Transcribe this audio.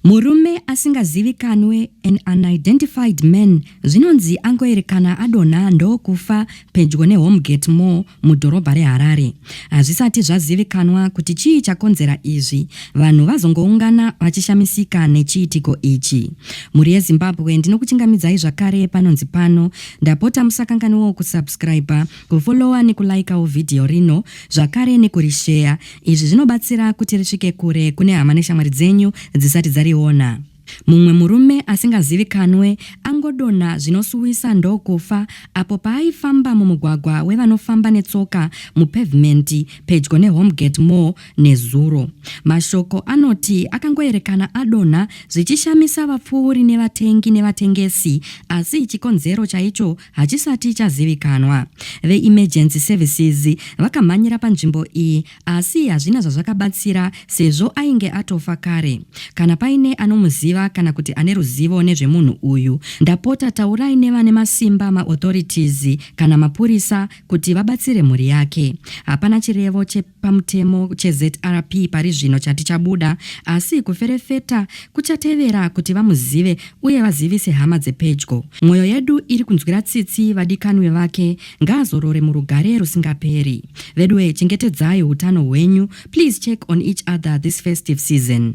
Murume asingazivikanwe, an unidentified man, zvinonzi angoerekana adonha ndokufa pedyo neHomegate Mall mudhorobha reHarare. Hazvisati zvazivikanwa kuti chii chakonzera izvi, vanhu vazongoungana vachishamisika nechiitiko ichi. Mhuri yeZimbabwe ndinokuchingamidzai zvakare panonzi pano, ndapota musakanganwewo kusubscriber, kufollower nekulaikawo vhidhiyo rino zvakare nekurisheya Izvi zvinobatsira kuti risvike kure kune hama neshamwari dzenyu dzisati dzariona. Mumwe murume asingazivikanwe angodonha zvinosuwisa ndokufa apo paaifamba mumugwagwa wevanofamba netsoka mupevhimendi pedyo neHomegate Mall nezuro. Mashoko anoti akangoerekana adonha zvichishamisa vapfuuri nevatengi nevatengesi asi chikonzero chaicho hachisati chazivikanwa. VeEmergency Services vakamhanyira panzvimbo iyi asi hazvina zvazvakabatsira sezvo ainge atofa kare. Kana paine anomuziva kana kuti ane ruzivo nezvemunhu uyu, ndapota taurai nevane masimba maauthorities kana mapurisa kuti vabatsire mhuri yake. Hapana chirevo che. pamutemo cheZRP pari zvino chati chabuda, asi kuferefeta kuchatevera kuti vamuzive uye vazivise hama dzepedyo. Mwoyo yedu iri kunzwira tsitsi vadikanwi vake, ngaazorore murugare rusingaperi. Veduwee chengetedzai hutano hwenyu, please check on each other this festive season.